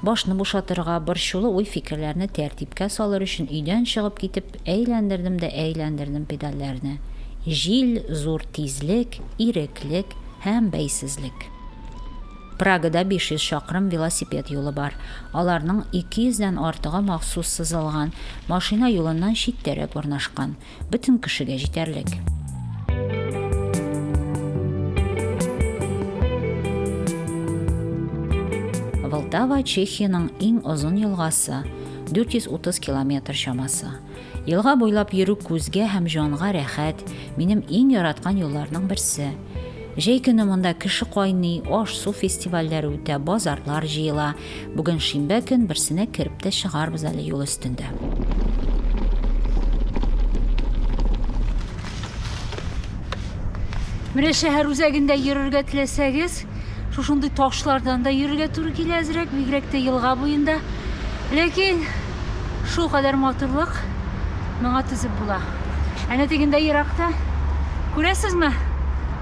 Башны бушатырга, борчулы уй-фикерләрне тәртипкә салыр өчен өйдән чыгып китеп, әйләндердем дә әйләндердем педальләрне. Җил, зур тизлек, иреклек һәм бәйсезлек. Прагада 500 чакрым велосипед юлы бар. Аларның 200 дән артыгы махсус сызылган, машина юлыннан читтәрәк урнашкан. Бөтен кешегә җитәрлек. Волтава Чехиянең иң озын елгасы, 430 километр чамасы. Елга буйлап йөрү күзгә һәм җанга рәхәт, минем иң яраткан юлларның берсе. Җәй көне монда кеше кайный, аш-су фестивальләре үтә, базарлар җыела. Бүген шимбә көн, берсенә кереп тә чыгарбыз әле юл өстендә. Менә шәһәр үзәгендә йөрергә теләсәгез, шушындый ташлардан да йөрергә туры килә әзрәк, бигрәк тә елга буенда. Ләкин Шул кадәр матурлык моңа түзеп була. Әнә тегендә еракта, күрәсезме,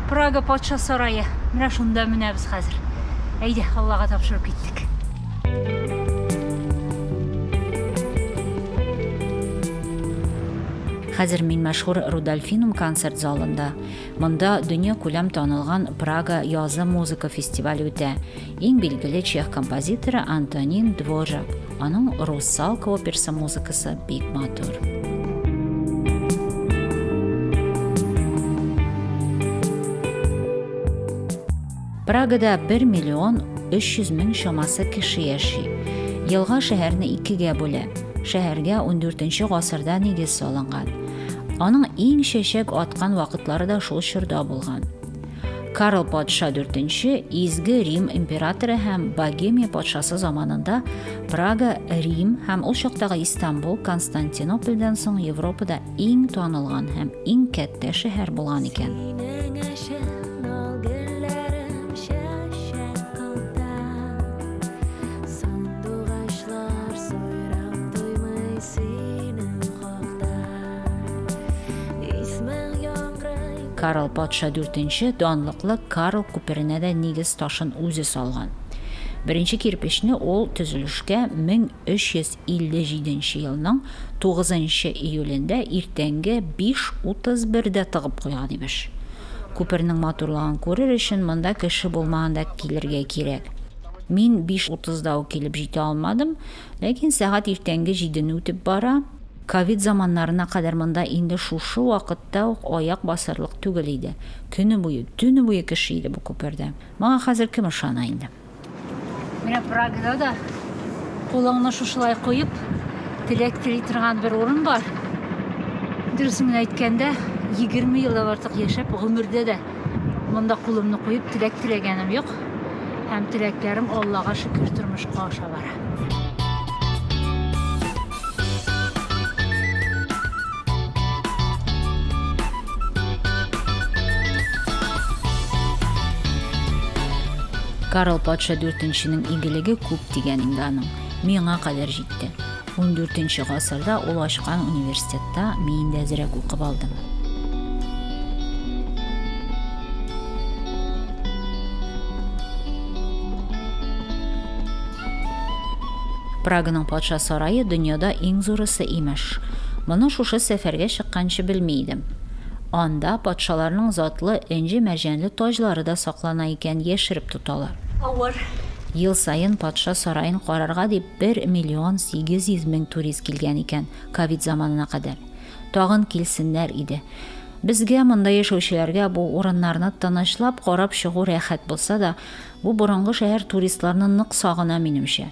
Прага патша сарае. Менә шунда менәбез хәзер. Әйдә, Аллага тапшырып киттек. Хәзер мин мәшһүр Рудольфинум концерт залында. Монда дөнья күләм танылган Прага язы музыка фестивале үтә. Иң билгеле чех композиторы Антонин Дворжак. Аның Русалка операсы музыкасы бик матур. Прагада 1 миллион 300 мең чамасы кеше яши. Елга шәһәрне икегә бүлә. Шәһәргә 14 гасырда нигез салынган. Аның иң чәчәк аткан вакытлары да шул чорда булган. Карл патша 4-нче Изге Рим императоры һәм Богемия патшасы заманында Прага, Рим һәм ул чактагы Истанбул Константинопольдән соң Европада иң танылган һәм иң кәттә шәһәр булган икән. Карл патша дүртенче данлыклы Карл күперенә дә нигез ташын үзе салган. Беренче кирпечне ул төзелешкә 1357 елның 9 июлендә иртәнге 5.31-дә тыгып куйган, имеш. Күпернең матурлыгын күрер өчен монда кеше булмаганда килергә кирәк. Мин 5.30-да ук килеп җитә алмадым, Ләкин сәгать иртәнге җидене үтеп бара. Ковид заманнарына кадәр монда инде шушы вакытта ук аяк басырлык түгел иде. Көне буе, төне буе кеше иде бу күпердә. Моңа хәзер кем ышана инде? Менә Прагада да кулыңны шушылай куеп, теләк тели торган бер урын бар. Дөресен генә әйткәндә, 20 елдан артык яшәп, гомердә дә Монда кулымны куеп теләк теләгәнем юк. Һәм теләкләрем Аллага шөкер тормышка аша бара. Карл патша дүртенченең игелеге күп дигән инде аның. Миңа кадәр җитте. 14 гасырда ул ачкан университетта мин дә әзрәк укып алдым. Праганың патша сарае дөньяда иң зурысы имеш. Моны шушы сәфәргә чыкканчы белми идем. Анда патшаларның затлы энҗе мәрҗәнле таҗлары да саклана икән, яшереп тоталар. Ел саен патша сараен карарга дип Бер миллион сигез йөз мең турист килгән икән ковид заманына кадәр. Тагын килсеннәр иде. Безгә, монда яшәүчеләргә бу урыннарны тынычлап карап чыгу рәхәт булса да, бу борынгы шәһәр туристларны нык сагына, минемчә.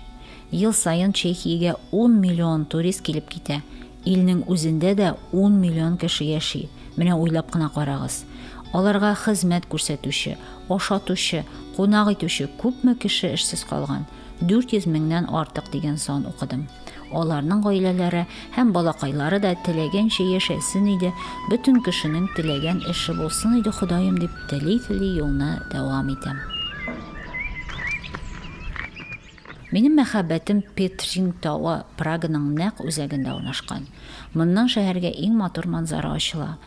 Ел саен Чехиягә ун миллион турист килеп китә. Илнең үзендә дә ун миллион кеше яши. Менә уйлап кына карагыз. Аларга хезмәт күрсәтүче, ашатучы, кунак итүче күпме кеше эшсез калган. 400 меңнән артык дигән сан укыдым. Аларның гаиләләре һәм балакайлары да теләгәнчә яшәсен иде, бөтен кешенең теләгән эше булсын иде Ходаем дип тели-тели юлны дәвам итәм. Минем мәхәббәтем Петрин тавы Праганың нәкъ үзәгендә урнашкан. Моннан шәһәргә иң матур манзара ачыла.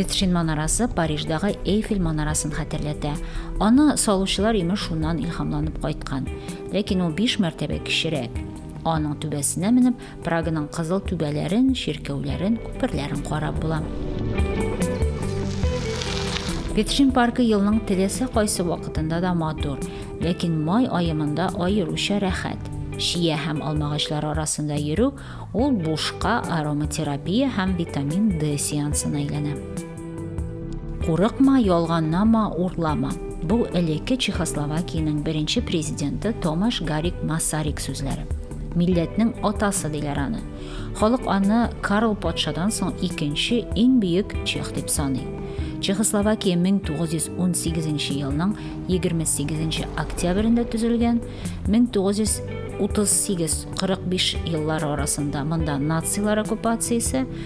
Петршин манарасы Париждагы Эйфель манарасын хәтерләтә. Аны салучылар имеш шуннан илһамланып кайткан. Ләкин ул 5 мәртәбә кечерәк. Аның түбәсенә менеп, Праганың кызыл түбәләрен, чиркәүләрен, күперләрен карап була. Петршин паркы елның теләсә кайсы вакытында да матур, ләкин май аемында аеруча рәхәт. Шия һәм алмагачлар арасында йөрү ул бушка ароматерапия һәм витамин D сеансына әйләнә. Курыкма, ялганнама, урлама. Бу элекке Чехословакиянең беренче президенты Томаш Гарик Масарик сүзләре. Милләтнең атасы диләр аны. Халык аны Карл патшадан соң икенче иң бөек чех дип саный. Чехословакия 1918 елның 28 октябрендә төзелгән, 1938-45 еллары арасында монда нацилар оккупациясе,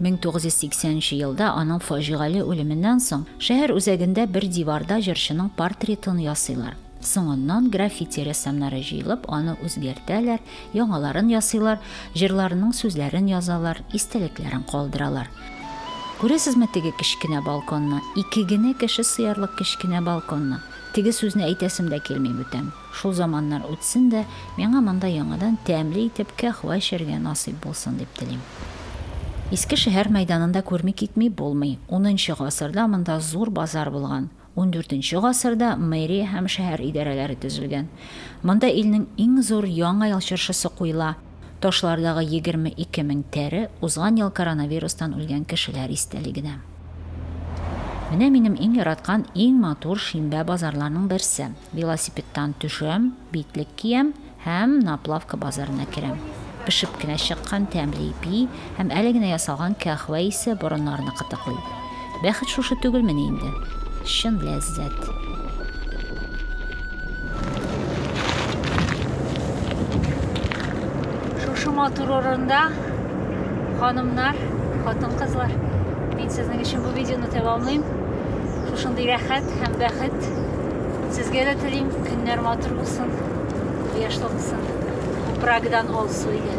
1980 нче елда аның фаҗигале үлеменнән соң шәһәр үзәгендә бер диварда җырчының портретын ясыйлар. Соңыннан граффити рәссамнары җыелып, аны үзгәртәләр, яңаларын ясыйлар, җырларының сүзләрен язалар, истәлекләрен калдыралар. Күрәсезме теге кечкенә балконны, ике генә кеше сыярлык кечкенә балконны? Теге сүзне әйтәсем дә килми бүтән. Шул заманнар үтсен дә, миңа монда яңадан тәмле итеп каһвә эчәргә насыйп булсын дип телим. Иске шәһәр мәйданын да күрми китми булмый. Унынчы гасырда монда зур базар булган. Ундүртенче гасырда мэрия һәм шәһәр идарәләре төзелгән. Монда илнең иң зур Яңа ел чыршысы куела. Ташлардагы 22 мең тәре узган ел коронавирустан үлгән кешеләр истәлегенә. Менә минем иң яраткан, иң матур шимбә базарларның берсе. Велосипедтан төшәм, битлек киям һәм Наплавка базарына керәм. Пешеп кенә чыккан тәмле ипи, Һәм әле генә ясалган каһвә исе борыннарны кытыклый. Бәхет шушы түгелмени инде? Чын ләззәт. Шушы матур урында ханымнар, хатын-кызлар, мин сезнең өчен бу видеоны тәмамлыйм. Шушындый рәхәт һәм бәхет сезгә дә телим. Көннәр матур булсын, кояшлы булсын. Прагдан алсу иде.